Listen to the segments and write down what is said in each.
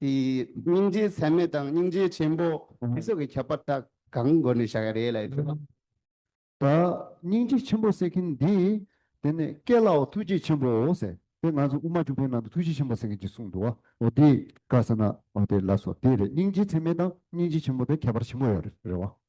སྙིང་རྗེ་ཚད་མེད་དང་སྙིང་རྗེ་ཆེན་པོ་ཞེས་སོགས་ཀྱི་ཁྱད་པར་དག་གང་སྒོ་ནས་བྱ་བའི་རེད་ལ། ད་སྙིང་རྗེ་ཆེན་པོ་ཟེར་མཁན་འདི་དེ་ནས་སྐད་ལའོ་ཐུགས་རྗེ་ཆེན་པོ་ཟེར་དེ་ང་ཚོ་དབུ་མ་བཅུ་པའི་ནང་དུ་ཐུགས་རྗེ་ཆེན་པོ་ཟེར་མཁན་གྱི་གསུང་འདུག་བ་འདི་དགའ་ས་ན་དེ་ལ་སོ་དེ་རེད་སྙིང་རྗེ་ཚད་མེད་དང་སྙིང་རྗེ་ཆེན་པོ་དེ་ཁྱད་པར་ཆེན་པོ་ཡོད་རེད་བ།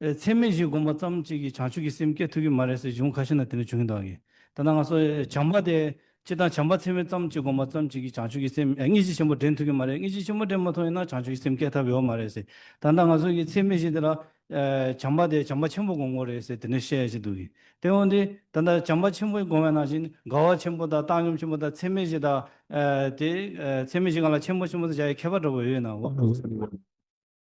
ཚད་མེད་བཞི་བསྒོམ་པ་ཙམ་གཅིག་གིས་བྱང་ཆུབ་ཀྱི་སེམས་སྐྱེ་ཐུབ་ཀྱི་མ་རེད་ཟེར་གཞུང་ཁ་ཤས་ན་དེ་འདྲ་བྱུང་གི་འདུག་ད་ནངས་སོ་བྱམས་པ་དེ་སྤྱི་དང་བྱམས་པ་ཚད་མེད་ཙམ་གཅིག་བསྒོམ་པ་ཙམ་གཅིག་གིས་བྱང་ཆུབ་ཀྱི་སེམས་དངོས་གཞི་ཆེན་པོ་འདྲེན་ཐུབ་ཀྱི་མ་རེད་དངོས་གཞི་ཆེན་པོ་འདྲེན་མ་ཐུབ་ཡིན་ན་བྱང་ཆུབ་ཀྱི་སེམས་སྐྱེ་ཐབས་ཡོད་མ་རེད་ཟེར་ད་ནངས་སོ་ཀྱི་ཚད་མེད་བཞི་དེ་ལ་བྱམས་པ་དེ་བྱམས་པ་ཆེན་པོ་བསྒོམ་དགོས་རེད་ཟེར་དེ་འདྲ་བཤད་ཡས་ཅི་འདུག་གི་དེ་འོན་ཏེ་ད་ལྟ་བྱམས་པ་ཆེན་པོ་བསྒོམ་བས་ན་བཞིན་དགའ་བ་ཆེན་པོ་དང་བཏང་སྙོམས་ཆེན་པོ་དང་ཚད་མེད་བཞི་དང་དེ་ཚད་མེད་བཞི་གང་ལ་ཆེན་པོ་ཆེན་པོ་དུ་བྱ་ཡའི་ཁྱད་པར་འདྲ་པོ་ཡོད་ཡིན་ནའང།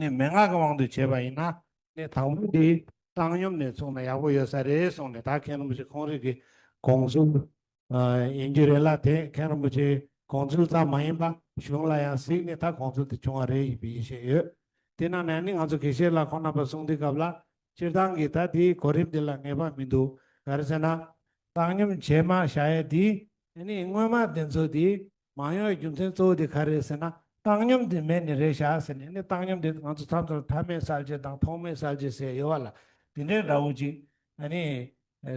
ནི་མན་ངག་གི་དབང་དུ་བྱས་པ་ཡིན་ན། ནི་དང་པོ་འདི་བཏང་སྙོམས་ནས་བཙུགས་ན་ཡག་པོ་ཡོད་ས་རེད་གསུངས་ནས་ད་མཁན་རིན་པོ་ཆེ་ཁོང་རིགས་ཀྱི་དགོངས་ཚུལ་ཡིན་རྒྱུ་རེད་ལ་དེ་མཁན་རིན་པོ་ཆེའི་དགོངས་ཚུལ་ཙམ་མ་ཡིན་པ་གཞུང་ལ་ཡང་གཟིགས་ནས་ད་དགོངས་ཚུལ་དེ་བྱུང་བ་རེད་ཞེས་པའི་ཡིད་ཆེས་ཡོད། དེས་ན་ནནི་ང་ཚོ་དགེ་བཤེས་ལ་ཁོང་རྣམ་པ་གསུང་འདི་སྐབས་ལ་སྤྱིར་བཏང་གི་ད་དེའི་གོ་རིམ་འདི་ལ་ངེས་པ་མི་འདུག་ག་རེ་ཟེར་ན། བཏང་སྙོམས་བྱས་མ་བྱ་ཡས་དེའི། ནི་སྔོན་མ་དེ་ཚོ་དེའི་མང་ཉུང་གི་རྒྱུ་མཚན་གཙོ་བོ་དེ་ག་རེད་ཟེར་ན་བཏང་སྙོམས་དེ་མེད་ནི་རེད་བཞག་ཟེར་ནས་ནི་བཏང་སྙོམས་དེ་ང་ཚོ་མཚམས་མཚམས་མཐའ་མེད་གསར་བརྗེ་དང་ཐོག་མེད་གསར་བརྗེ་ཟེར་ཡོད་བ་ལ་དེ་འདྲའི་འདྲ་བོ་ཅིག་ཨ་ནི་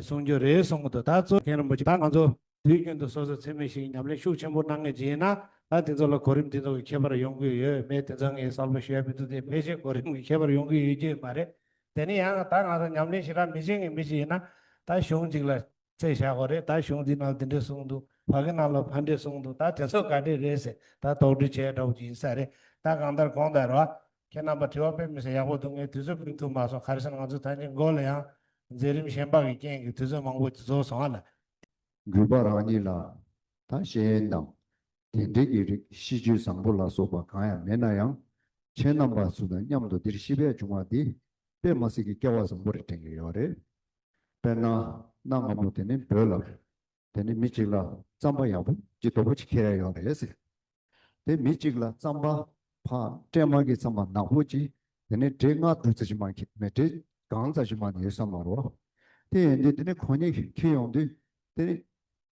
གསུང་རྒྱུ་རེད་གསུང་གི་འདུག་ད་གཙོ་མཁན་རིན་པོ་ཆེ་ད་ང་ཚོ་དུས་རྒྱུན་དུ་སོ་སོས་འཚེ་མེད་ཞིག་ཉམས་ལེན་ཤུགས་ཆེན་པོ་གནང་ངེས་ཅི་ཡིན་ན་ད་དེ་ཚོ་ལ་གོ་རིམ་དེ་ཚོ་གི་ཁྱད་པར་ཡོང་གི་ཡོད་མེད་དེ་ཚོ་ངས་གསལ་པོ་ཤེས་མི་འདུག་དེ་ཕལ་ཆེར་གོ་རིམ་གི་ཁྱད་པར་ཡོང་གི་ཡོད་རྒྱུ་མ་རེད་དེ་ནི་ཡང་ད་ང་ཚོ་ཉམས་ལེན་ཞིག་རག་མི་བྱེད་ངེས་མེད་ཅི་ཡིན་ན་ད་གཞུང་གཅིག་ལ་ཚེ་བཞག་གོ་རེད་ད་གཞུང་འདི་རྣམས་དེ་འདྲས་གསུངས་འདུག་བག་གི་རྣམས་ལ་ཕ་འདྲས་གསུངས་འདུག་ད་དེ་ཚོ་ག་འདྲས་རེད་ཟེར་ད་དོགས་འདྲི་བྱས་འདྲ་བོ་ཅིག་ཡིན་ས་རེད་ད་གང་ལྟར་གོང་ལྟར་རོ། ཁྱེད་རྣམས་པ་དྲི་བ་དཔེ་མི་སེ་ཡག་པོ་འདུག་ངས་དུས་ཚོད་སྤུན་ཐུབ་མ་སོང་ག་རེ་ཟེར་ང་ཚོ་ཐང་ཆེན་དགོན་ལ་ཡང། མཛད་རིམ་གཞན་དཔག་གི་རྐྱེན་གྱིས་དུས་ཚོད་མང་པོ་འདི་ཚོ་སོང་ཨ་ལ། འགྲུལ་པ་རང་ཉིད་ལ་ད་ཤེས་ཡོན་དང་དེ་འབྲེལ་གྱི་རིགས་གཤིས་རྒྱུད་བཟང་པོ་ལ་སོགས་པ་གང་ཡང་མེད་ན་ཡང། ཁྱེད་རྣམས་པ་ཚོ་དང་མཉམ་དུ་འདིར་ཤི་བས་བྱུང་བ་འདི་དཔེ་མ་སེ་གི་སྐལ་བ་བཟང་པོ་རེ་དྲན་གྱི་ཡོད་རེད། དཔེར་ན་གནའ་སྔ་མོ་དེ་ནི་བོད་ལ་དེ་ནི་མི་གཅིག་ལ་རྩམ་པ་ཡག་པོ་ཅི་དོ་པོ་ཅི་ཁྱེར་ཡ་ཡོད་རེད་ཟེར། དེ་མི་གཅིག་ལ་རྩམ་པ་ཕ་སྤྲད་མ་གི་རྩམ་པ་ནག་པོ་ཅི་དེ་ནི་དྲེད་ལྔ་དྲུག་ཙ་ཅི་མ་ཁྱེར་མེད་དྲེད་གང་ཙ་ཅི་མ་ནི་ཡོད་ས་མ་རོ། དེ་ཡིན་དུས་དེ་ནི་གོ་ནི་ཁྱེར་ཡོང་དུས་དེ་ནི།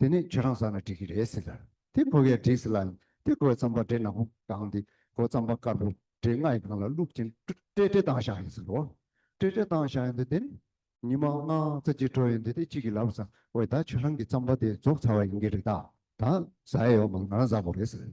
དེ་ནི་ཁྱོད་རང་བཟང་ན་འགྲིག་གི་རེད་ཟེར། དེ་གོ་གས་འགྲིག་ཟེར་ལ། དེ་གོས་རྩམ་པ་འདྲེ་ནག་པོ་བཏང་སྟེ་གོས་རྩམ་པ་དཀར་པོ་འདྲེ་ལྔ་ཡི་ཁང་ལ་བླུགས་ཅིང་སྤྲེལ་སྤྲེལ་བཏང་བཞག་ཡིན་ཟེར་རོ། སྤྲེལ་སྤྲེལ་བཏང་བཞག་ཡིན་དུས་དེ་ནི་ཉི་མ་ལྔ་རྩ་གཅིག་འགྲོ་ཡིན་དུས་དེ་གཅིག་གིས་ལབ་བཟའ་བས་ད་ཁྱོད་རང་གི་རྩམ་པ་དེ་རྫོགས་ཚར་བ་ཡིན་གྱི་རེད་ད། ད་བཟའ་ཡས་ཡོག་མ་ལ་ང་རང་བཟའ་བོ་རེད་ཟེར།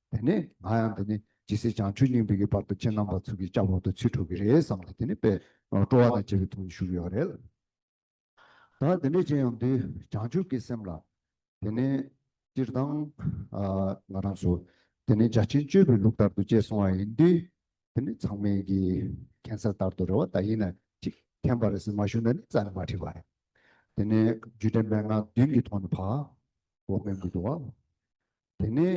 དེ་ནས་ང་ཡང་འདི་ནི་ཇི་སྲིད་བྱང་ཆུབ་སྙིང་པོའི་གྱི་བར་དུ་ཁྱེད་རྣམ་པར་ཚུར་གྱིས་བཅག་པར་དུ་ཚིག་གྲུབ་ཀྱི་རེད་བསམ་སྟེ་དེ་ནས་པས་སྤྲོ་བ་དང་བཅས་པའི་ཐུགས་ནི་ཞུགས་ཡོད་པ་རེད། ད་འདི་འདྲའི་ཅན་ཡང་འདུས་བྱང་ཆུབ་ཀྱི་སེམས་ལ། དེ་ནས་སྤྱིར་བཏང། ང་རང་སུ། དེ་ནས་བརྒྱ་བྱིན་སྤྱོད་པའི་ལུགས་ལྟར་དུ་ཅེས་གསུང་བ་ཡིན་དུས། དེ་ནི་ཚང་མས་ཀྱི་མཁྱེན་གསལ་ལྟར་དུ་རེ་བ་ད་ཡིན་ན་ཅིག་མཁྱེན་པ་རེ་ཟིན་མ་ཞུ་ན་ནི་རྩ་ནས་མ་ཁྲིད་པ་རེད། དེ་ནས་རྒྱུད་སྡེ་མན་ངག་བདུན་གྱི་ཐོག་ནས་བར། འོག་མའི་མགུར་དུ་བ། དེ་ནས་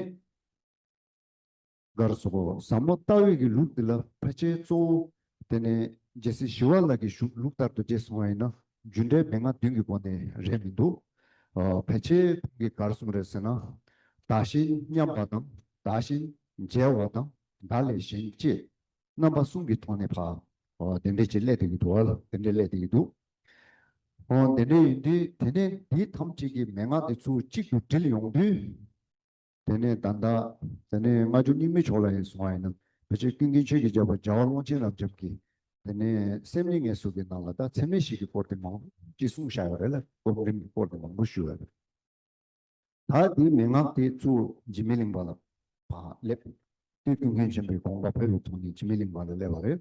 སྒར་སོགས་ཟབ་མོ་ལྟ་འོས་ཀྱི་ལུགས་འདི་ལ་ཕལ་ཆེར་གཙོ་བོ། དེ་ནས་རྗེ་སྲིད་ཞི་བ་ལགས་ཀྱི་བཞུགས་ལུགས་ལྟར་དུ་བགྲེས་སོང་བ་ཡིན་ན་རྒྱུ་འབྲས་མན་ངག་བདུན་གྱི་སྒོ་ནས་རེད་མི་འདུག་ཕལ་ཆེར་ཁོང་གིས་སྒར་གསུམ་རེད་ཟེར་ན། བདག་བཞིན་མཉམ་པ་དང་བདག་བཞིན་མཇལ་བ་དང་བདག་ལས་གཞན་གཅེས་རྣམ་པ་གསུམ་གྱི་ཐོག་ནས་བདེ་འགྲེལ་གྱི་སླད་དུ་ཡི་འདུག་བ་ལ་བདེ་འགྲེལ་སླད་དུ་ཡི་འདུག་ཨོ་དེ་འདྲ་ཡིན་དུས་དེ་ནས་འདི་ཐམས་ཅད་ཀྱི་མན་ངག་འདི་ཚུལ་གཅིག་ཏུ་དྲིལ་ཡོང་དུས། དེ་ནས་ད་ལྟ་དེ་ནས་སྔ་འགྱུར་རྙིང་མའི་ཕྱོགས་ལ་ཡང་སོང་བ་ཡིན་ན་བོད་ཆས་ཀུན་མཁྱེན་ཆོས་ཀྱི་རྒྱལ་པོ་རྒྱ་བ་ཀློང་ཆེན་རབ་འབྱམས་ཀྱིས་དེ་ནས་སེམས་ཉིད་ངལ་གསོ་གི་ནང་ལ་ད་ཚད་མེད་ཞིག་གི་སྐོར་དེ་མང་ཅིག་གསུངས་བཞག་ཡོད་རེད་ལ་སྒོམ་རིམ་གྱི་སྐོར་དེ་མང་པོ་ཞུས་ཡོད་རེད། ད་འདིའི་མན་ངག་དེ་ཚུལ་འཇིགས་མེད་གླིང་པ་ལ་བ་སླེབས་དུས་ཀུན་མཁྱེན་ཆེན་པོའི་དགོངས་པ་བོད་ལ་ཐོགས་ནས་འཇིགས་མེད་གླིང་པ་ལ་སླེབས་པ་རེད།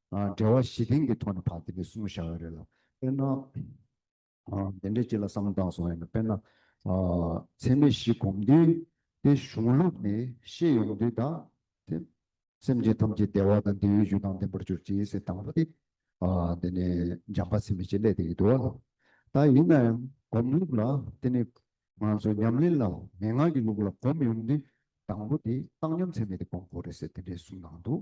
འབྲེལ་བ་བཞི་ལྡན་གྱི་ཐོག་ནས་བར་དེ་འདྲའི་གསུམ་བཞག་ཡོད་རེད་ལ། དཔེར་ན། དེ་འདྲའི་སྤྱི་ལ་བསམ་བཏང་སོང་ཡོད་ན་དཔེར་ན། ཚད་མེད་བཞི་བསྒོམ་དུས་དེ་གཞུང་ལུགས་ནས་ཤེས་ཡོང་དུས་ད་དེ། སེམས་ཅན་ཐམས་ཅད་བདེ་བ་དང་བདེ་བའི་རྒྱུ་དང་ལྡན་པར་གྱུར་ཅིག་ཟེར་དང་པོ་དེ། དེ་ནས་འཇམ་དཔའ་ཚད་མེད་ཅེས་སླད་དེ་ཡི་དུ་བ་ལ། ད་ཡིན་ན་ཡང་སྒོམ་ལུགས་ལ་དེ་ནས། ང་ཚོ་ཉམས་ལེན་ལ་མན་ངག་གི་ལུགས་ལ་སྒོམ་ཡོང་དུས་དང་པོ་དེ་བཏང་སྙོམས་ཚད་མེད་དེ་སྒོམ་དགོས་རེད་ཟེར་དེ་འདྲའི་གསུམ་གནང་འདུག།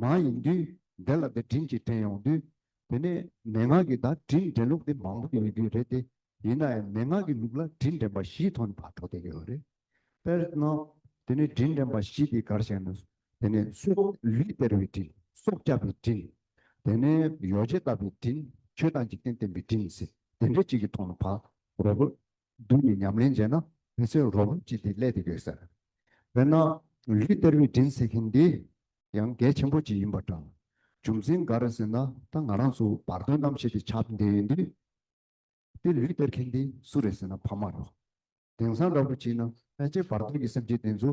མ་ཡིན་དུས་དེ་ལ་དེ་དྲིན་གྱིས་དྲན་ཡོང་དུས། དེ་ནས་མན་ངག་གི་བརྡ་དྲིན་དྲན་ལུགས་དེ་མང་པོ་ཡོད་རྒྱུ་རེད་དེ། ཡིན་ནའང་མན་ངག་གི་ལུགས་ལ་དྲིན་དྲན་པ་བཞིའི་ཐོག་ནས་བར་དོ་དེ་ཡོད་རེད། དཔེར་ན། དེ་ནས་དྲིན་དྲན་པ་བཞི་དེ་གར་བཤད་ན། དེ་ནས་སྲོག་ལུས་སྟེར་བའི་དྲིན། སྲོག་བཅག་པའི་དྲིན། དེ་ནས་ཡོ་བྱད་བཏབ་པའི་དྲིན། ཆོས་དང་འཇིག་རྟེན་བསྟེན་པའི་དྲིན་ཟེར། དེ་འདྲ་གཅིག་གི་ཐོག་ནས་བར་དོ། བདུན་གྱི་ཉམས་ལེན་བྱས་ན་དེ་ཚོས་རོ་འབབ་ཅིག་འདི་སླད་དུ་ཡོད་ཟེར། དཔེར་ན། ལུས་གཏེར་བའི་དྲིན་ཟེར་མཁན་འདི་ཡང་གལ་ཆེན་པོ་ཅིག་ཡིན་པ་འདྲ། རྒྱུ་མཚན་ག་རེ་ཟེར་ན་ད་ང་རང་ཚོ་བར་དོའི་གནམ་གཤིས་འདི་ཆགས་བསྡད་ཡོད་དུས། དེ་ལུས་གཏེར་མཁན་འདི་སུ་རེད་ཟེར་ན་ཕ་མ་རོ། དེང་སང་འདྲ་པོ་བྱས་ན་ཕལ་ཆེར་བར་དོའི་གི་སེམས་ཅན་དེ་ཚོ།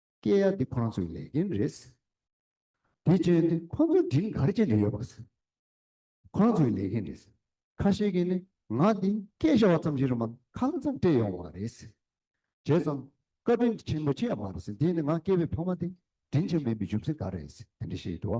སྐྱེས་ཡ་འདི་ཁོང་ཚོའི་ལས་འགན་རེད། དེ་བཅོལ་ནི་ཁོང་ཚོ་སྒྲིན་གར་བྱེད་ཀྱི་ཡོད་པ། ཁོང་ཚོའི་ལས་འགན་རེད། ཁ་ཤས་ཀྱིས་ནི་ང་འདི་སྐད་བཤད་བ་ཙམ་གྱིས་རུ་མ་ཁག་ཙམ་སྤྲད་ཡོང་བ་རེད། བྱས་ཙང་བཀའ་དྲིན་ཆེན་པོ་ཆེ་ཡང་མ་རེད། དེ་ནི་ང་སྐྱེས་པའི་ཕ་མ་དེ་དྲིན་ཆེན་པོས་མི་འཇུ་ཚེ་ག་རེ། དེ་འདྲ་བཤད་ཡོད་དོ།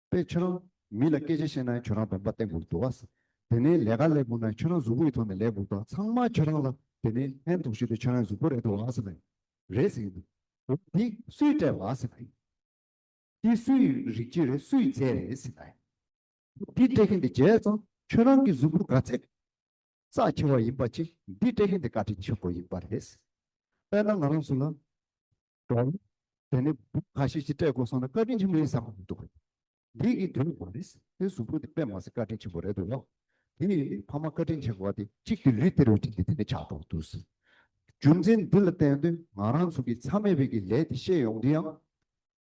པས་ཁྱོད་རང་མི་ལ་སྐད་ཆ་བཤད་ན་ཁྱོད་རང་བོན་པོ་སྟེང་འགུག་འདུག་བ། དེ་ནས་ལས་ཀ་ལས་འགུག་ན་ཁྱོད་རང་གཟུགས་པོ་ཡི་ཐོག་ནས་ལས་འགུག་པ་ཚང་མ་ཁྱོད་རང་ལ་དེ་ནས་ལྷན་དུ་ཞུས་ཏེ་ཁྱོད་རང་གཟུགས་པོ་རེད་འདུག་བ་ཟེར་ན་རེད་ཟེར་གྱི་འདུག་འདི་སུས་སྤྲད་བ་ཟེར་ན། འདི་སུ་ཡི་རིག་བྱེད་རེད་སུ་ཡི་རྫས་རེད་ཟེར་ན། འདི་སྤྲད་མཁན་དེ་རྗེས་ཙང་ཁྱོད་རང་གི་གཟུགས་པོ་ག་ཚད་རྩ་ཆེ་བ་ཡིན་པ་ཅིག་འདི་སྤྲད་མཁན་དེ་བཀའ་དྲིན་ཆེན་པོ་ཡིན་པ་རེད། དཔེར་ན་ང་རང་སུ་ལ་འགྲོ། དེ་ནས་བུ་ག་ཞིག་ཅིག་སྤྲད་དགོས་སོང་ན་བཀའ་དྲིན་ཆེན་པོ་ཡིན་བསམ་གྱི་འདུག་འདི་གི་དོན་མ་རེད། དེ་གཟུགས་པོ་དེ་དཔེ་མ་ཟད་བཀའ་དྲིན་ཆེན་པོ་རེད་འདུག་ལགས། དེ་ཡིན་ཕ་མ་བཀའ་དྲིན་ཆེ་དགོས་བ་དེ་གཅིག་དེ་ལུས་སྟེར་བའི་དྲིན་དེ་དེ་ནས་ཆགས་འགྲོ་འདུག་ཟེར། རྒྱུ་མཚན་འདི་ལ་བརྟེན་དོན་ང་རང་ཚོ་གི་ཚ་མེད་བེད་ཀྱི་ལས་དེ་ཤེས་ཡོང་དུས་ཡང།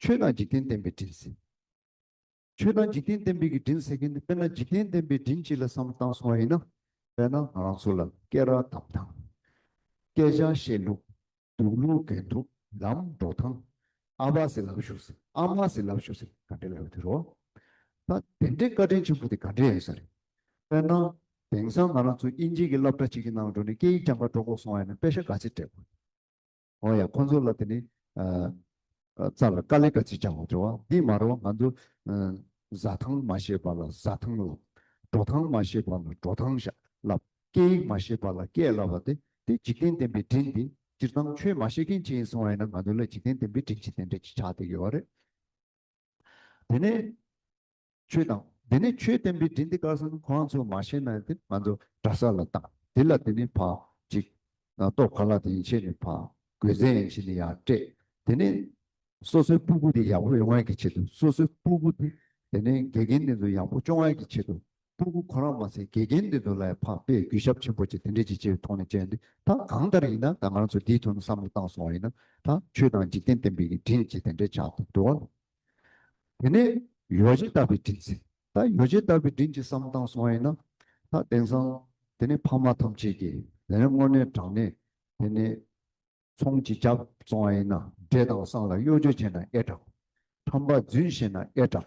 ཆོས་དང་འཇིག་རྟེན་བསྟན་པའི་དྲིན་ཟེར། ཆོས་དང་འཇིག་རྟེན་བསྟན་པའི་གི་དྲིན་ཟེར་མཁན་དེ་དཔེར་ན་འཇིག་རྟེན་བསྟན་པའི་དྲིན་གཅིག་ལ་བསམ་བཏང་སོང་བ་ཡིན་ན། དཔེར་ན་ང་རང་ཚོ་ལ་སྐད་རགས་བསྡམས་དང། སྐད་ཆ་བཤད་ལུགས། འདུག་ལུགས་གན་ཐུབ་ལམ་འགྲོ་སྟངས། ཨ་ཕ་ཟེར་ལབ་ཞུགས་ཟེར་ཨ་མ་ཟེར་ལབ་ཞུགས་ཟེར་ག་འདྲའི་ལབ་ཡོད་རོ། ད་དེ་འདྲའི་བཀའ་དྲིན་ཆེན་པོ་དེ་ག་འདྲའི་ཡོད་ས་རེད། དཔེར་ན། དེང་སང་ང་རང་ཚོ་དབྱིན་ཇིའི་གི་སློབ་གྲྭ་གཅིག་གི་ནང་འགྲོ་ནས་སྐད་ཡིག་རྐྱང་པ་སྒྲོག་གོ་སོང་བ་ཡིན་ན་དཔེ་ཤ་ག་ཚད་སྤྲད་དགོས། འོང་ཡ་ཁོང་ཚོ་ལ་དེ་ནི། རྩ་ལ་ཀ་ལི་ཀ་ཅི་ཆང་བ་འདྲ་བ་འདི་མ་རོ་ང་ཚོ། བཟའ་ཐང་མ་ཤེས་པ་ལ་བཟའ་ཐང་ལབ། འགྲོ་ཐང་མ་ཤེས་པ་ལ་འགྲོ་ཐང་ཤ་ལབ་སྐད་ཡིག་མ་ཤེས་པ་ལ་སྐད་ལབ་བ་དེ་དེ་འཇིག་རྟེན་བསྟན་པའི་དྲིན་དེ་སྤྱིར་བཏང་ཆོས་མ་ཤེས་མཁན་གཅིག་ཡིན་སོང་བ་ཡིན་ན་ང་ཚོ་ལ་འཇིག་རྟེན་བསྟན་པའི་དྲིན་ཅི་དེ་འདྲ་ཅི་ཆགས་དེ་ཡོད་རེད། དེ་ནས་ཆོས་དང། དེ་ནས་ཆོས་བསྟན་པའི་དྲིན་འདི་བཀའ་གསང་ཁང་ཚོས་མ་ཤེས་ན་དེ་ང་ཚོ་གྲྭ་ས་ལ་བཏང་དེ་ལ་དེ་ནས་ཕག་ཅིག། ཏོག་ག་ལ་དེ་ཡིན་ཕྱེས་ནས་ཕག་གོས་ཟན་ཡིན་ཕྱེས་ནས་ཡར་སྤྲད་དེ་ནས། སོ་སོའི་སྤུ་གུ་དེ་ཡག་པོ་ཡོང་བའི་གི་ཆེད་དུ་སོ་སོའི་སྤུ་གུ་དེ་དེ་ནས་དགེ་རྒན་དེ་ཚོ་ཡག་པོ་སྐྱོང་བའི་གི་ཆེད་དུ་སྤྲུལ་སྐུ་ཁོ་རང་མ་ཟད་དགེ་རྒན་འདི་ཚོ་ལ་ཡང་ཕངས་པས་གུས་ཞབས་ཆེན་པོ་བྱེད་དེ་འདྲའི་བྱེད་སྤྱད་ཐོག་ནས་བྱས་འདི་ད་གང་ལྟར་ཡིན་ན་ད་ང་རང་ཚོ་འདིའི་ཐོག་ནས་བསམ་བློ་བཏང་སོང་བ་ཡིན་ན་ད་ཆོས་དང་འཇིག་རྟེན་བསྟན་པའི་གི་དྲིན་ཅིག་དེ་འདྲའི་ཆགས་ཐུབ་འགྲོ་བ་དེ་ནས་ཡོ་བྱད་བཏབ་པའི་དྲིན་ཟེར་ད་ཡོ་བྱད་བཏབ་པའི་དྲིན་ཅིག་བསམ་བཏང་སོང་བ་ཡིན་ན་ད་དེང་སང་དེ་ནས་ཕ་མ་ཐམས་ཅད་ཀྱིས་དེ་ནས་སྔོ་ནས་དྲང་ནས་དེ་ནས་ཚོང་ཅིག་བརྒྱབ་སོང་བ་ཡིན་ན་འབྲས་དང་སྲང་ལ་གཡོ་སྦྱོར་བྱས་ན་ཨེ་དྲག་ཁྲམ་པ་རྫུན་བཤད་ན་ཨེ་དྲག།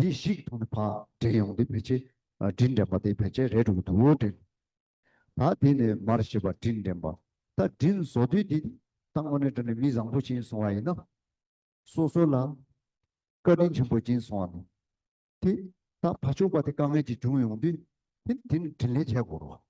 དེ་བཤིག་ཐུབ་ན་བག་འབྲེལ་ཡོང་དུས་བེད་སྤྱད་དྲིན་དྲན་པ་དེ་བེད་སྤྱད་རལ་གྲུ་གི་དུག་འོད་དྲན། ད་དེ་ནས་མར་བཤིག་པ་དྲིན་དྲན་པ་ད་དྲིན་བཟོ་དུས་དེ་ད་དངོས་གནས་དྲན་ནས་མི་བཟང་པོ་བྱིན་སོང་བ་ཡིན་ན། སོ་སོ་ལ་བཀའ་དྲིན་ཆེན་པོ་བྱིན་སོང་བ་ནི། དེ་ད་བག་ཆུག་པ་དེ་དཀའ་ངལ་གྱི་བྱུང་ཡོང་དུས་དེ་དྲིན་དྲན་ལས་བྱེད་དགོས་རོགས།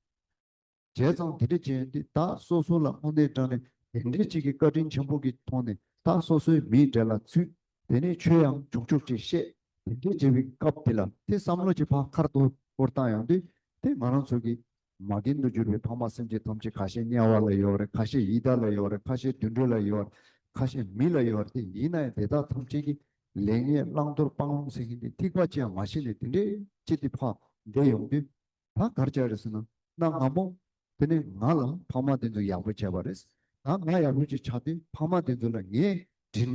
བྱས་ཙང་དེ་འདྲ་བྱས་ཏེ་ད་སོ་སོ་ལ་དངོས་གནས་དྲང་ནས་དེ་འདྲའི་ཅིག་གི་བཀའ་དྲིན་ཆེན་པོ་གི་ཐོག་ནས་ད་སོ་སོའི་མིའི་འབྲས་ལ་ཚུད་དེ་ནས་ཆོས་ཡང་འབྱུང་ཆོག་ཅེས་བཤད་དེ་འདྲའི་བྱས་པའི་སྐབས་དེ་ལ་དེ་བསམ་བློ་གྱི་ཕག་ཁར་དུ་བསྐོར་བཏང་ཡང་དུས་དེ་ང་རང་ཚོ་གི་མ་རྒན་དུ་གྱུར་པའི་ཕ་མ་སེམས་ཅན་ཐམས་ཅད་ཁ་ཤས་དམྱལ་བ་ལ་ཡོད་རེད་ཁ་ཤས་ཡི་དྭགས་ལ་ཡོད་རེད་ཁ་ཤས་དུད་འགྲོ་ལ་ཡོད་རེད་ཁ་ཤས་མི་ལ་ཡོད་རེད་དེ་ཡིན་ན་ཡང་དེ་དག་ཐམས་ཅད་ཀྱི་ལེགས་ཉེས་བླང་དོར་སྤང་བླང་ཟེར་མཁན་དེ་ཐིགས་པ་ཅི་ཡང་མ་ཤེས་ནས་དེ་འདྲའི་ཅིག་གི་ཕ་འདས་ཡོང་དུས། ད་གར་བྱས་རེད་ཟེར་ན་གནའ་སྔ་མོ་དེ་ནས་ང་ལ་ཕ་མ་དེ་ཚོ་ཡག་པོ་བྱས་པ་རེད། ད་ང་ཡག་པོ་ཅིག་ཆགས་ཏེ་ཕ་མ་དེ་ཚོ་ལ་ངས་དྲིན་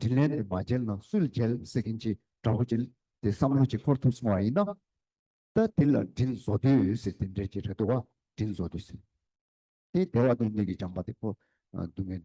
དྲིན་ལན་དེ་མ་འཇལ་ན་སུས་འཇལ་ཟེར་གིན་ཅི་འདྲ་བོ་ཅིག་དེ་བསམ་བློ་ཅིག་འཁོར་ཐུབ་སོང་བ་ཡིན་ན། ད་དེ་ལ་དྲིན་བཟོ་དུས་ཟེར་དེ་འདྲས་ཅིག་རེད་འདུག་བ་དྲིན་བཟོ་དུས་ཟེར་དེ་དེ་བ་དོན་གཉིས་ཀྱི་སྦྱངས་པ་དེ་ཕོ་འདུག་ངེས།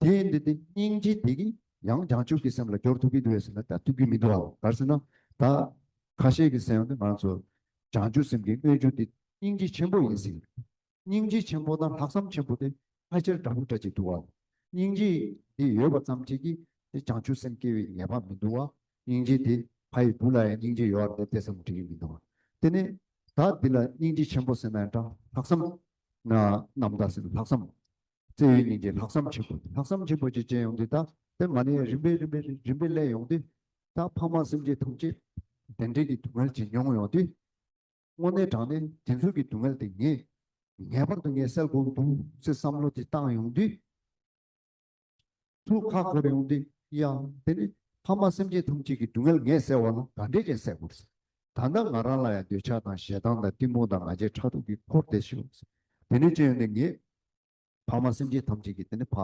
དེ་ཡིན་དུས་དེ་སྙིང་རྗེ་དེ་གིས་ཡང་བྱང་ཆུབ་ཀྱི་སེམས་ལ་སྦྱོར་ཐུབ་ཀྱི་འདུག་བས་ཟེར་ན་ད་ཐུབ་ཀྱི་མི་འདུག་བ་གར་ཟེར་ན་ད་ཁ་ཤས་ཀྱི་སེམས་ནི་ང་ཚོ་བྱང་ཆུབ་སེམས་ཀྱི་དངོས་བཅུད་དེ་སྙིང་རྗེ་ཆེན་པོ་ཡིན་ཟེར། སྙིང་རྗེ་ཆེན་པོ་དང་ལྷག་བསམ་ཆེན་པོ་དེ་ཕལ་ཆེར་འདྲ་པོ་འདྲ་གཅིག་འདུག་བ། སྙིང་རྗེ་དེ་ཡོད་པ་ཙམ་གྱིས་ཀྱིས་དེ་བྱང་ཆུབ་སེམས་སྐྱེ་བའི་ངེས་པ་མི་འདུག་བ། སྙིང་རྗེ་དེ་ཕ་ཡི་བུ་ལ་ཡང་སྙིང་རྗེ་ཡོད་བ་དེ་བསམ་དགོས་ཀྱི་མི་འདུག་བ། དེ་ནས་ད་འདི་ལ་སྙིང་རྗེ་ཆེན་པོ་ཟེར་ན་ཡང་འདྲ་ལྷག་བསམ། ནམ་ཟླ་ཟེར་ན་ལྷག་བསམ། རྩེ་ཡི་སྙིང་རྗེ་ལྷག་བསམ་ཆེན་པོ་ལྷག་བསམ་ཆེན་པོ་བཅས་ཅན་ཡོང་དུས་ད་ལྟའི་མ་ནི་རིམ་པས་རིམ་པས་རིམ་པས་ཀླད་ཡོང་དུས་ད་ཕ་མ་སེམས་ཅན་ཐམས་ཅད་དེ་འདྲེ་གི་སྡུག་བསྔལ་གྱིས་མྱོང་ཡོང་དུས་དངོས་གནས་དྲང་གནས་དེ་ཚོ་གི་སྡུག་བསྔལ་དེ་ངས་ངེས་པར་དུ་ངས་སེལ་དགོས་འདུག་ཅེས་བསམ་བློ་དེ་བཏང་ཡོང་དུས། ཐུགས་ཁ་འཁོར་ཡོང་སྟེ་ཡང་དེ་ནི་ཕ་མ་སེམས་ཅན་ཐམས་ཅད་ཀྱི་སྡུག་བསྔལ་ངས་བསལ་བ་ལ་ག་འདྲས་ཀྱང་སྲེག་དགོས། ད་ལྟ་ང་རང་ལ་ཡང་འདོད་ཆགས་དང་ཞེ་སྡང་དང་གཏི་མུག་དང་ང་རྒྱལ་ཕྲག་དོག་གིས་འཁོར་བསྡད་ཤི་འོངས། དེ་ནི་ཅི་ཡོད་ནས་ངས་ཕ་མ་སེམས་ཅན་ཐམས་ཅད་ཀྱི་དེ་ནི་བག་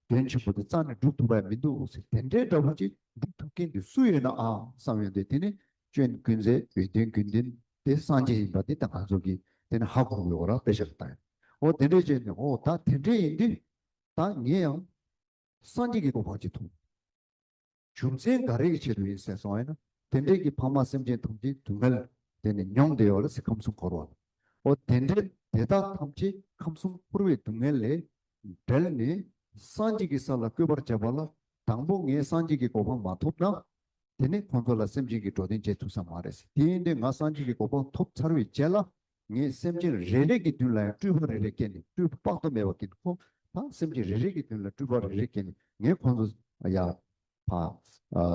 དོན་ཆེན་པོ་དེ་རྩ་ནས་བསྒྲུབ་ཐུབ་པ་ཡང་མི་འདུག་དེ་འདྲའི་འདྲ་པོ་ཅིག་སྒྲུབ་ཐུབ་མཁན་དེ་སུ་ཡོད་ནའང་བསམ་ཡོང་སྟེ་དེ་ནི་སྤྱོད་ཀུན་ཟས་འོས་དོན་ཀུན་ལྡན་དེ་སངས་རྒྱས་ཡིན་པ་འདི་ད་ང་ཚོ་གིས་དེ་ནི་ཧ་གོ་དགོས་པ་རང་དཔེ་ཆ་ལ་བཏང་ཡོད། འོ་དེ་འདྲས་ཅི་ཡོད་ནས་འོ་ད་དེ་འདྲས་ཡིན་དུས་ད་ངས་ཡང་སངས་རྒྱས་ཀྱི་སྐུ་ཕར་ཅིག་མཐོང། རྒྱུ་མཚན་འགའ་རེའི་ཆེད་དུ་ཡིན་ཟེར་སོང་བས་ན་དེ་འདྲའི་གྱི་འཕགས་མ་སེམས་ཅན་ཐམས་ཅད་དུ་མལ་དེ་ནས་མྱོང་བདེ་བ་ལ་སྲིད་ཁམས་གསུམ་འཁོར་བ་ལ་འོ་དེ་འདྲའི་དེ་དག་ཐམས་ཅད་ཁམས་གསུམ་འཁོར་བའི་སྡུག་བསྔལ་ལས་བསྒྲལ་ནས་སངས་རྒྱས་ཀྱི་ས་ལ་བཀོད་པར་བྱ་བ་ལ་དང་པོ་ངས་སངས་རྒྱས་ཀྱི་གོ་འཕང་མ་ཐོབ་ན་དེ་ནས་ཁོང་ཚོ་ལ་སེམས་ཅན་གྱི་འགྲོ་དོན་བྱེད་ཐུབ་ས་མ་རེད་ཟེར་དེ་འདྲའི་ང་སངས་རྒྱས་ཀྱི་གོ་འཕང་ཐོབ་ཚར་བའི་རྗེས་ལ་ངས་སེམས་ཅན་རེ་རེ་གི་མདུན་ལ་ཡང་སྤྲུལ་པ་རེ་རེ་བསྐྱེད་ནས་སྤྲུལ་པ་དཔག་ཏུ་མེད་པ་གིས་ཁོ་དང་སེམས་ཅན་རེ་རེ་གི་མདུན་ལ་སྤྲུལ་པ་རེ་རེ་བསྐྱེད་ནས་ངས་ཁོ་ཚོ་ཡ། བ།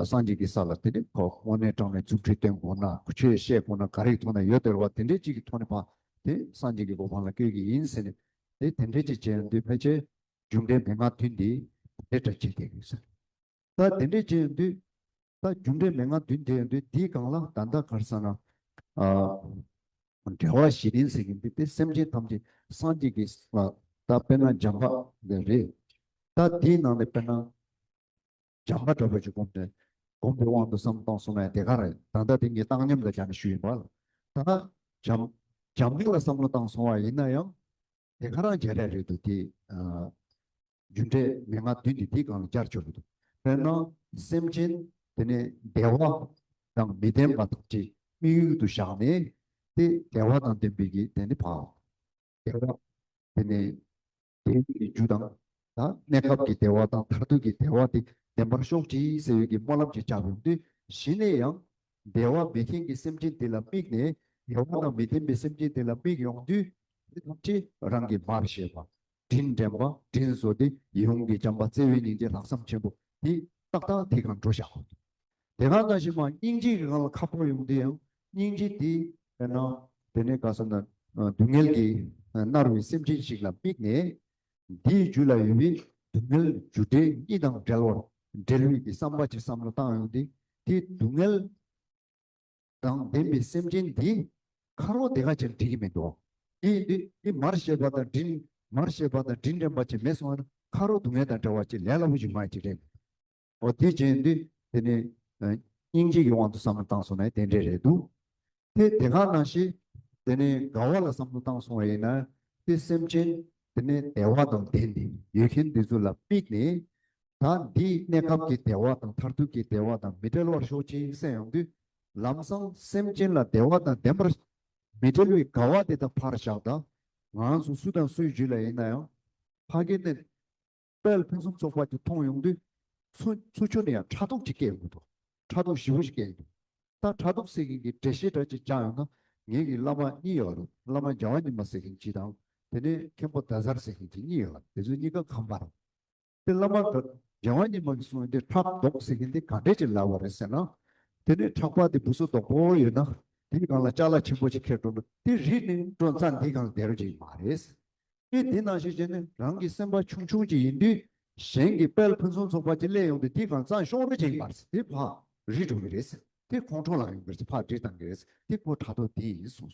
སངས་རྒྱས་ཀྱི་ས་ལ་དེ་འདྲའི་ཁོག་སྔོ་ནད་དྲག་ནས་རྫུ་འཕྲུལ་སྟོན་དགོས་ན་ཆོས་བཤད་དགོས་ན་ག་རེ་ཐོག་ནས་ཡོད་དེར་བ་དེ་འདྲའི་གཅིག་གི་ཐོག་ནས་བ་དེ་སངས་རྒྱས་ཀྱི་གོ་འཕང་ལ་བསྐྱོད་ཀྱི་ཡིན་ཟེར་ནས་དེ་དེ་འདྲའི་ཅིག་བྱེད་ན་དུས་ཕལ་ཆེར་མཇུག་འབྲས་མི་མངའ་དུས་འདི་དེ་འདྲ་བྱེད་བསྡད་དགོས་ས་རེད་ད་དེ་འདྲའི་བྱེད་ན་དུས་ད་རྒྱུ་འབྲས་མན་ངག་བདུན་དེ་ཡོད་དུས་འདིའི་སྒང་ལ་ད་ལྟ་གར་ས་ན། འགྲེལ་བ་བཞི་རིང་ཟེར་གྱིན་འདུག་དེ་སེམས་ཅན་ཐམས་ཅད་སངས་རྒྱས་ཀྱི་ལ་ད་དཔེར་ན་འཇམ་པ་ལས་རེད། ད་འདིའི་ནང་ནས་དཔེར་ན། འཇམ་པ་འདྲ་པོ་ཞིག་བསྒོམས་ནས་བསྒོམས་པའི་དབང་དུ་བསམ་སྟངས་སོང་ན་དེ་ག་རེད་ད་ལྟ་དེ་ངས་བཏང་སྙོམས་ལ་སྦྱར་ནས་ཞུས་ཡིན་པ། ད་འཇམ། འཇམ་དཔལ་ལ་བསམ་བློ་བཏང་སོང་བ་ཡིན་ན་ཡང། དེ་ག་རང་བྱས་ར་རེད་འདུག་དེ། རྒྱུ་འབྲས་མན་ངག་བདུན་འདི་དེའི་སྒང་ལ་བསྐྱར་བཅོས་འདུག་དཔེར་ན། སེམས་ཅན་དེ་ནི་བདེ་བ་དང་མི་ལྡན་པ་དང་བྲལ་དམིགས་ཡུལ་དུ་བཞག་ནས་ཏེ་བདེ་བ་དང་ལྡན་པའི་གྱི་དེ་ནི་བག་བདེ་བ་དེ་ནི་བདེ་ཡུལ་གྱི་རྒྱུ་དང། གནས་སྐབས་ཀྱི་བདེ་བ་དང་མཐར་ཐུག་གི་བདེ་བ་དེ་ལྡན་པར་ཤོག་ཅིག་ཟེར་ཡུལ་གྱི་སྨོན་ལམ་གྱིས་བཅགས་པའི་དུས་བཞི་ནས་ཡང། བདེ་བ་མེད་མཁན་གྱི་སེམས་ཅན་དེ་ལ་དམིགས་ནས་བདེ་བ་དང་མི་ལྡན་པའི་སེམས་ཅན་དེ་ལ་དམིགས་ཡོང་དུས་དེ་ཐམས་ཅད་རང་གིས་མར་ཤེས་པ་དྲིན་དྲན་པ་དྲིན་གཟོ་སྟེ་ཡོངས་ཀྱི་བྱམས་པ་བརྩེ་བའི་སྙིང་རྗེ་ལྷག་བསམ་ཆེན་པོ་དེ་ཏག་ཏག་དེ་གང་འགྲོ་བཞག་དེ་གང་ན་ཞིག་མ་སྙིང་རྗེ་གི་ངང་ལ་ཁ་ཕོར་ཡོང་དུས་ཡང་སྙིང་རྗེ་དེ་དཔེར་ན། དེ་ནས་ག་ས་ན་སྡུག་བསྔལ་གྱིས་མནར་བའི་སེམས་ཅན་ཞིག་ལ་དམིགས་ནས། འདིའི་རྒྱུད་ལ་ཡོད་པའི་སྡུག་བསྔལ་རྒྱུ་འབྲས་གཉིས་དང་བྲལ་བར་འབྲེལ་བའི་དེ་བསམ་པ་ཅིག་བསམ་བློ་བཏང་ཡོང་སྟེ་དེའི་སྡུག་བསྔལ། དང་ལྡན་པའི་སེམས་ཅན་འདི་ཁ་རོག་དེ་ག་ཅེར་འགྲིག་གི་མི་འདུག་འདི་འདི་འདི་མར་ཤེས་པ་དང་དྲིན་མར་ཤེས་པ་དང་དྲིན་དྲན་པ་ཅིག་མེད་སོང་བ་ན་ཁ་རོག་སྡུག་བསྔལ་དང་འདྲ་བ་ཅིག་ལས་སླ་པོ་ཞིག་མ་ཡིན་ཅིག་རེད་འོ་དེ་བྱས་འདི་དེ་ནི་སྙིང་རྗེ་ཡི་དབང་དུ་བསམ་བློ་བཏང་སོང་ན་དེ་འདྲས་རེད་འདུག་དེ་དེ་ག་ནང་བཞིན་དེ་ནི་དགའ་བ་ལ་བསམ་བློ་བཏང་སོང་བ་ཡིན་ན་དེ་སེམས་ཅན་དེ་ནི་བདེ་བ་དང་ལྡན་འདི་ཡོད་མཁན་འདི་ཚོ་ལ་དམིགས་ནས་ད་འདིས་གནས་སྐབས་ཀྱི་བདེ་བ་དང་མཐར་ཐུག་གི་བདེ་བ་དང་མི་འབྲལ་བར་ཤོག་ཅེས་གསན་ཡོང་དུས། ལམ་སང་སེམས་ཅན་ལ་བདེ་བ་དང་ལྡན་པར། མི་འབྲལ་བའི་དགའ་བ་དེ་དག་ཕར་བཞག་ད། ང་ཚོ་སུ་དང་སུའི་རྒྱུད་ལ་ཡིན་ན་ཡང། ཕ་སྐད་བསྟན། དཔལ་ཕུན་སུམ་ཚོགས་པ་དེ་མཐོང་ཡོང་དུས། ཚུ་ཚུ་ཆུ་ནི་ཡང་ཕྲ་ཐོག་ཅིག་སྐྱེས་ཡོང་དུས། ཕྲ་ཐོག་བཞི་བོ་ཞིག་སྐྱེས་ཡོང་དུས། ད་ཕྲ་ཐོག་སྲེག་མཁན་གྱི་འདྲེ་ཞེ་དྲག་ཅིག་བཅག་ཡོང་ན། ངེད་ཀྱི་བླ་མ་གཉིས་ཡོད་རེད་བླ་མ་རྒྱལ་བ་ཉི་མ་སྲེག་མཁན་གྱི་དང། དེ་ནས་མཁན་པོ་རྡ་སར་སྲེག་མཁན་གྱི་གཉིས་ཡོད་རེད་དེ་ཚོ་གཉིས་ཀ་ཁམས་པ་རེད། དེ་བླ་མ་དགའ་བ་ཉི་མ་གིས་གསུངས་དེ་ཕྲག་དོག་ཟེར་མཁན་དེ་ག་འདྲས་ཅིག་ལབ་བ་རེད་ཟེར་ན། དེ་ནས་ཕྲག་པ་དེ་བུ་སོ་དོག་པོ་ཡོད་ན་དེ་གི་གང་ལ་ལྕགས་ལ་ཆེན་པོ་ཅིག་ཁེར་འགྲོ་འགྲོ་དེ་རིགས་ནི་འགྲོ་མཚམས་འདིའི་གང་བསྡད་རོགས་ཅིག་མ་རེད། སྤྱིར་འདི་ནང་བཞིན་བྱས་ནས་རང་གི་སེམས་པ་ཆུང་ཆུང་ཅིག་ཡིན་དུས་གཞན་གྱི་དཔལ་ཕུན་སུམ་ཚོགས་པ་ཅིག་གླས་ཡོང་དུས་དེའི་གང་མཚམས་ཤོང་རོགས་ཅིག་མ་རེད་དེ་ཕ་རིས་འགྲོ་གི་རེད་དེ་ཁོང་ཁྲོ་ལངས་ཡོང་གི་རེད་ཕ་འདྲེ་བཏང་གི་རེད་དེ་ཁོ་དྲ་ཐོག་དེ་ཡིན་གསུངས་སོང།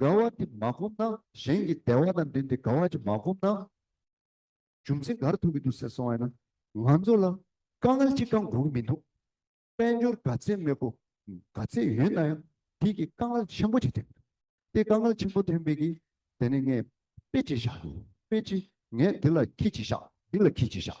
དགའ་བ་འདི་མ་སྒོམ་ན་གཞན་གྱི་བདེ་བ་དང་འབྲེལ་ཏེ་དགའ་བ་ཅིག་མ་སྒོམ་ན། རྒྱུ་མཚན་གར་ཐུག་གི་འདུག་ཟེར་སོང་བས་ན། ང་ཚོ་ལ་དཀའ་ངལ་ཅི་གང་འགོག་གི་མི་འདུག། དཔལ་འབྱོར་དགའ་ཚལ་མེད་གོ། དགའ་ཚལ་ཡོད་ན་ཡང་དེས་ཀྱི་དཀའ་ངལ་ཆེན་པོ་ཅིག་ཐེབས་འདུག་དེ་དཀའ་ངལ་ཆེན་པོ་ཐེབས་མེད་ཀྱི། དེ་ནས་ངས་དཔེ་ཅིག་བཞག་དཔེ་ཅིག་ངས་འདི་ལ་ཁྱི་ཅིག་བཞག་འདི་ལ་ཁྱི་ཅིག་བཞག།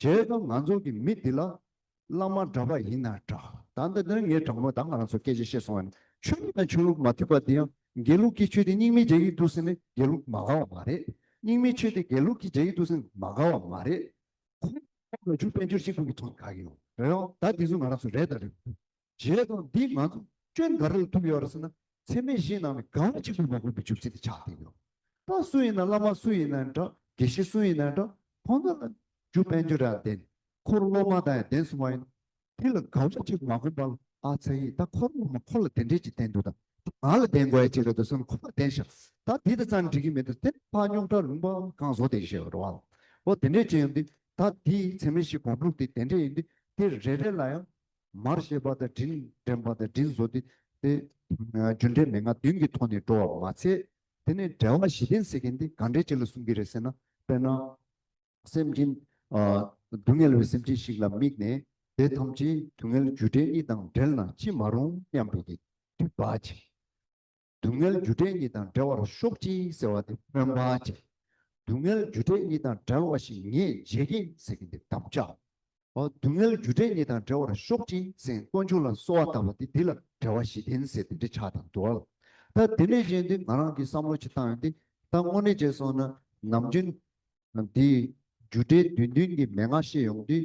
དེའི་སྐབས་ང་ཚོ་གི་མི་འདི་ལ། བླ་མ་འདྲ་པ་ཡིན་ན་འདྲ། ད་ལྟ་འདིར་ངའི་དྲང་མོ་དག་ང་རང་ཚོར་སྐད་ཆ་བཤད་སོང་བ་ནི་ཆོས་ལུགས་དང་ཆོས་ལུགས་མ་མཐུན་པ་འདི་ཡང་དགེ་ལུགས་ཀྱི་ཆོས་དེ་རྙིང་མའི་རྒྱ་ཡིག་ཏུ་ཟིན་ནས་དགེ་ལུགས་མ་དགའ་བ་མ་རེད། རྙིང་མའི་ཆོས་དེ་དགེ་ལུགས་ཀྱི་རྒྱ་ཡིག་ཏུ་ཟིན་མ་དགའ་བ་མ་རེད། ཁོང་ལ་ཁོང་ལ་ཆོས་དཔལ་འབྱོར་གཅིག་པུ་གི་ཐོག་ནས་དགའ་གི་ཡོད་རེད་ཨང། ད་དེ་ཚོ་ང་རང་ཚོ་རེད་དང་རེད་མ་རེད། བྱས་དང་འདིས་ང་ཚོ་སྐྱོན་ག་རེ་ལ་ཐུག་ཡོད་རེད་ཟེར་ན་ཚད་མའི་གཞིའི་ནང་ནས་གང་གཅིག་ལྷུག་མ་དགོས་པའི་བྱུབ་ཚིག་དེ་ཆགས་བསྡད་ཡོད། པ་སུ་ཡིན་ན་བླ་མ་སུ་ཡིན་ན་འདྲ་དགེ་བཤེས་སུ་ཡིན་ན་འདྲ་ཁོང་ཚོ་ལ་རྒྱུ་དཔལ་འབྱོར་རེའང་ལྡན་ཁོར་སློབ་མ་དང་ཡང་ལྡན་སོང་བ་ཡིན། དེ་ལ་ག་རེ་ཅིག་མ་དགོངས་པ་ལ་ཨ་ཚ་ཡིས་ད་ཁོར་སློབ་མ་ཁོ་ལ་དེ་འདྲས་ཅིག་བསྟན་འདུག་ད་དེ་ང་ལ་བསྟན་དགོས་ཡ་ཅིག་རེད་འདུག་ཟེར་ན་ཁོ་ལ་བསྟན་ཤག་ད་དེ་ལྟ་ཙམ་འགྲིག་གི་མི་འདུག་དེར་ཕ་རྙོག་དྲ་རུང་པའམ་གང་བཟོ་དེ་ཞེས་རོ་བ་ལ་འོ་དེ་འདྲས་ཅིག་ཡིན་དུས་ད་དེའི་ཚད་མའི་གཞི་གོང་ཕུགས་དེ་དེ་འདྲས་ཡིན་དུས་དེ་རེ་རེ་ལ་ཡང་མར་བཤད་པ་དང་དྲིན་དྲན་པ་དང་དྲིན་བཟོ་སྟེ། རྒྱུ་འབྲས་མན་ངག་བདུན་གྱི་ཐོག་ནས་འགྲོ་བར་མ་ཚད། དེ་ནས་འགྲེལ་བ་བཞི་ལྡན་ཟེར་མཁན་དེ་ག་འདྲའི་ཆེད་ལ་གསུང་གི་རེད་ཟེར་ན། དཔེར་ན། སེམས་ཅན། སྡུག་བསྔལ་བའི་སེམས་ཅན་ཞིག་ལ་དམིགས་ནས། དེ་ཐམས་ཅད་སྡུག་བསྔལ་རྒྱུ་འབྲས་གཉིས་དང་བྲལ་ན་ཅི་མ་རུང་སྙམ་པའི་དུས་བག་ཅིང། སྡུག་བསྔལ་རྒྱུ་འབྲས་གཉིས་དང་འབྲེལ་བར་ཤོག་ཅིག་ཟེར་བ་དེ་སྨོན་པ་ཅན། སྡུག་བསྔལ་རྒྱུ་འབྲས་གཉིས་དང་འདྲ་བ་ཞིག་ངས་མཇལ་གྱིན་ཟེར་གྱིན་འདི་དམ་བཅའ། སྡུག་བསྔལ་རྒྱུ་འབྲས་གཉིས་དང་འབྲེལ་བར་ཤོག་ཅིག་ཟེར་དཀོན་མཆོག་ལ་གསོལ་བ་བཏབ་པ་དེ་འདི་ལ་འབྲེལ་བ་བཞི་ལྡན་ཟེར་དེ་འདི་ཆགས་དང་འདུ་བ་ལ། ད་དེ་ནས་གཞན་དེ་ང་རང་གིས་བསམ་བློ་ཅིག་བཏང་ཡོང་སྟེ་ད་དངོས་གནས་བྱས་སོང་ན་ནམ་རྒྱུན། འདིས་རྒྱུ་འབྲས་བདུན་བདུན་གྱི་མན་ངག་བཤད་ཡོང་དུས་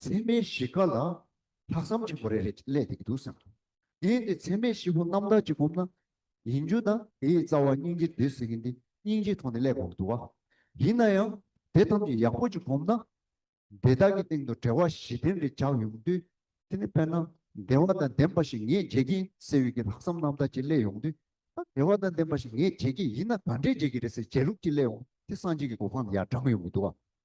མཚན་མའི་གཞི་ཀ་ལ་ལྷག་བསམ་ཆེན་པོ་རེ་རེ་བསླད་དེ་འདུག་བསམ་གྱིས། དེས་འདི་མཚན་མའི་གཞི་པོ་རྣམ་དག་ཅིག་བསྒོམས་ན། ཡིན་རྒྱུ་དང་དེའི་རྩ་བ་སྙིང་རྗེ་འདི་ཟེར་གྱི་འདི་སྙིང་རྗེ་ཐོག་ནས་བསླད་དགོས་འདུག་བ། ཡིན་ན་ཡང་དེ་ཐམས་ཅད་ཡག་པོ་ཅིག་བསྒོམས་ན། འདི་དག་གི་སྟེང་དུ་བྲེལ་བ་བཞི་ལྡན་རེ་འཇགས་ཡོང་དུས། དེ་ནི་དཔེར་ན་བདེ་བ་དང་ལྡན་པ་ཞིག་ངས་བརྗེད་ཀྱིན་ཟེར་བའི་གི་ལྷག་བསམ་རྣམ་དག་ཅིག་བསླད་ཡོང་དུས། ད་བདེ་བ་དང་ལྡན་པ་ཞིག་ངས་བརྗེད་ཀྱི་ཡིན་ན་ག་འདྲས་བརྗེད་ཀྱི་རེད་ཟེར་བརྗེད་ལུགས་ཅིག་བསླད་འོང་དུས་སངས་རྒྱས་ཀྱི་གོ་འཕང་ནི་ཡར་འབྲངས་ཡོང་གི་འདུག་བ།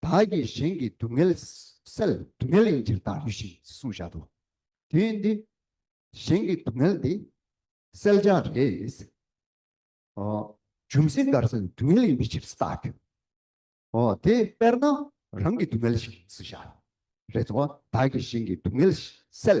བདག་གིས་གཞན་གྱི་སྡུག་བསྔལ་སེལ། སྡུག་བསྔལ་ཡིན་ཕྱིར་བདག་ལུས་ཞེས་གསུངས་བཞག་ཏུ། དེ་ཡིན་ཏེ། གཞན་གྱི་སྡུག་བསྔལ་འདི་སེལ་བྱ་རེད། འཇུམ་སྲི་མགར་སེལ་སྡུག་བསྔལ་ཡིན་པའི་ཕྱིར་ས་བདག་གིའོ། དེ་དཔེར་ན་རང་གི་སྡུག་བསྔལ་ཞིག་ཡིན་ཚུལ་བཞག་རེད་དོ། བདག་གིས་གཞན་གྱི་སྡུག་བསྔལ་སེལ།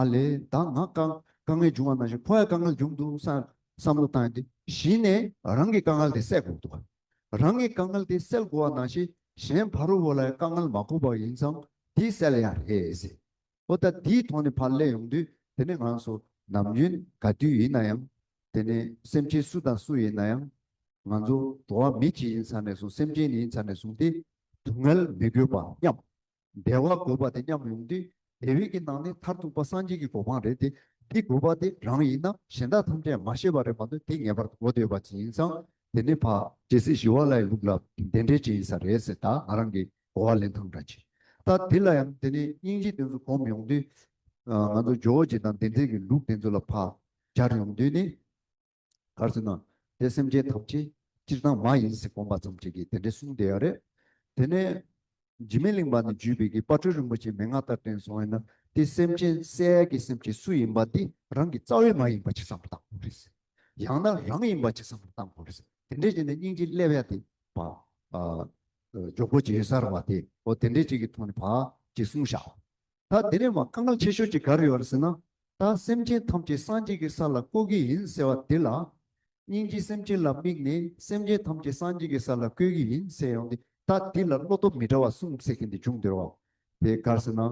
ཨ་ལས་བདག་ང་དཀའ་དཀའ་ངལ་འབྱུང་བ་ནང་བཞིན་ཁོ་ཡང་དཀའ་ངལ་འབྱུང་འདུག་བསམ་བསམ་བློ་བཏང་སྟེ་གཞི་ནས་རང་གི་དཀའ་ངལ་དེ་སེལ་དགོས་འདུག་རང་གི་དཀའ་ངལ་དེ་སེལ་དགོས་བ་ནང་བཞིན་གཞན་ཕ་རོལ་བོ་ལ་དཀའ་ངལ་མ་གོ་བ་ཡིན་ཙང་དེ་སེལ་ཡ་རེད། ཨོ་ད་དེའི་ཐོག་ནས་ཕར་སླེབས་ཡོང་དུས་དེ་ནི་ང་ཚོ་ནམ་རྒྱུན་ག་དུས་ཡིན་ན་ཡང་དེ་ནི་སེམས་ཅན་སུ་དང་སུ་ཡིན་ན་ཡང་ང་ཚོ་འགྲོ་བ་མི་གཅིག་ཡིན་ཚར་ནས་བཟུང་སེམས་ཅན་ནི་ཡིན་ཚར་ནས་བཟུང་སྟེ་སྡུག་བསྔལ་མི་དགོས་པ་སྙམ། བདེ་བ་དགོས་པ་དེ་མཉམ་ཡོང་དུས་དེ་བས་ཀྱི་ནང་ནས་མཐར་ཐུག་པ་སངས་རྒྱས་ཀྱི་གོ་འཕང་རེད་དེ་འདི་དགོས་པ་དེ་རང་ཡིན་ནམ་གཞན་དག་ཐམས་ཅད་མ་ཤེས་པ་རེད་མ་གཏོགས་དེ་ངེས་པར་དུ་གོ་འདོད་པ་ཅི་ཡིན་ཙང་དེ་ནི་ཕ། ཇི་སྲིད་ཞི་བ་ལའི་ལུགས་ལ་དེ་འདྲའི་ཅི་ཡིན་ས་རེད་ཟེར་དག་ང་རང་གིས་གོ་བ་ལེན་ཐང་འདྲ་གྱིས་ད་དེ་ལ་ཡང་དེ་ནས་སྙིང་རྗེ་དེ་ཚོ་གོམས་ཡོང་དུས། ང་ཚོ་ཇོ་བོ་རྗེ་དང་བདེན་བརྩེ་གྱི་ལུགས་དེ་ཚོ་ལ་ཕ། སྦྱར་ཡོང་དུས་ནི། གར་སོན་ན་དེ་སེམས་ཅན་ཐམས་ཅད་སྤྱིར་བཏང་མ་ཡིན་ཟེར་དགོངས་པ་ཙམ་བྱས་ཀྱིས་དེ་འདྲའི་གསུང་དེ་ཡང་རེད། དེ་ནས་འཇིགས་མེད་གླིང་པ་ནས་བརྒྱུད་པའི་གི་སྤ་གྲོལ་རིན་པོ་ཆེའི་མན་ངག་ལྟར་དྲན་སོང་བས་ན་དེ་སེམས་ཅན་གསལ་གྱི་སེམས་ཀྱི་སུ་ཡིན་པ་དེ་རང་གི་རྩ་བའི་མ་ཡིན་པ་ཅིག་བསམ་བློ་བཏང་དགོས་རེད། ཡང་ན་རང་ཡིན་པ་ཅིག་བསམ་བློ་བཏང་དགོས་རེད། དེ་འདྲས་བྱས་ནས་སྙིང་རྗེ་སླེ་བས་དེ་བ། ཇོ་བོ་རྗེ་གསར་བ་དེ་ཨོ་དེ་འདྲས་བྱས་ཀྱི་ཐོག་ནས་བ་ཅིག་གསུང་བཞག་ད་དེ་ནས་མ་སྐར་མ་ཆེ་ཤོས་ཅིག་ག་རེ་ཡོད་རེད་ཟེར་ན། ད་སེམས་ཅན་ཐམས་ཅད་སངས་རྒྱས་ཀྱི་ས་ལ་བཀོད་གི་ཡིན་ཟེར་བ་འདི་ལགས། སྙིང་རྗེ་སེམས་ཅན་ལ་དམིགས་ནས་སེམས་ཅན་ཐམས་ཅད་སངས་རྒྱས་ཀྱི་ས་ལ་བཀོད་གི་ཡིན་ཟེར་ཡོང་སྟེ་ད་འདི་ལ་བློ་སྟོབས་མི་འདྲ་བ་གསུངས་ཟེར་གྱི་འདི་ཅུང་བདེ་བ། དེ་ག་རེ་ཟེར་ན་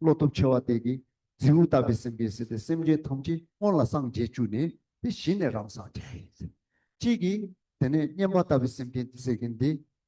བློ་སྟོབས་ཆེ་བ་དེ་གིས་རྫིའུ་བཏབ་པའི་སེམས་ཀྱིས་ཟེར་ཏེ་སེམས་ཅན་ཐམས་ཅད་སྔོན་ལ་སངས་རྒྱས་བཅུ་ནས་དེ་བཞི་ནས་རང་སངས་རྒྱས་ཡིན་ཟེར། གཅིག་གིས་དེ་ནས་སྙེམས་པ་བཏབ་པའི་སེམས་ཅན་དེ་ཟེར་གྱི་འདི།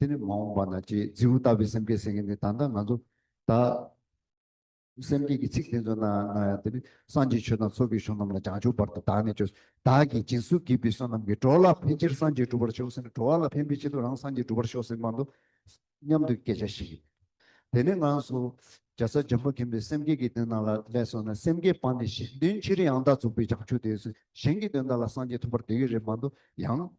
དེ་ནི་མ་འོངས་པ་ན་ཅེས་རྫི་བོ་ལྟ་བུའི་སེམས་བསྐྱེད་ཟེར་མཁན་དེ་ད་ལྟ་ང་ཚོ་དག་སེམས་བསྐྱེད་ཀྱི་ཚིག་དེ་ཚོ་ནང་ན་ཡང་དེ་ནི་སངས་རྒྱས་ཆོས་དང་ཚོགས་ཀྱི་གཞུང་རྣམས་ལ་བྱང་ཆུབ་བར་དུ་དག་ནས་བཅོས་སོ། བདག་གིས་སྦྱིན་སྲུང་བགྱིས་པའི་བསོད་ནམས་ཀྱིས་འགྲོ་ལ་ཕན་ཕྱིར་སངས་རྒྱས་འགྲུབ་པར་ཤོག་ཟེར་ན་འགྲོ་བ་ལ་ཕན་པའི་ཆེད་དུ་རང་སངས་རྒྱས་འགྲུབ་པར་ཤོག་ཟེར་མ་མདོ་སྙམ་དུ་སྐད་ཆ་ཞིག་ཡིན། དེ་ནས་ངང་སོ། རྒྱ་བཟའ་འཇམ་པོ་མཁྱེན་པའི་སེམས་བསྐྱེད་ཀྱི་དོན་རྣམས་ལ་ལས་སོ་ན་སེམས་བསྐྱེད་སྤངས་ནས་གཞན་དོན་ཕྱིར་ཡང་དག་རྫོགས་པའི་བྱང་ཆུབ་དེ་སུ་གཞན་གྱི་དོན་དག་ལ་སངས་རྒྱས་ཐོབ་པར་འདོད་ཀྱི་རེད་མ་མདོ་ཡང།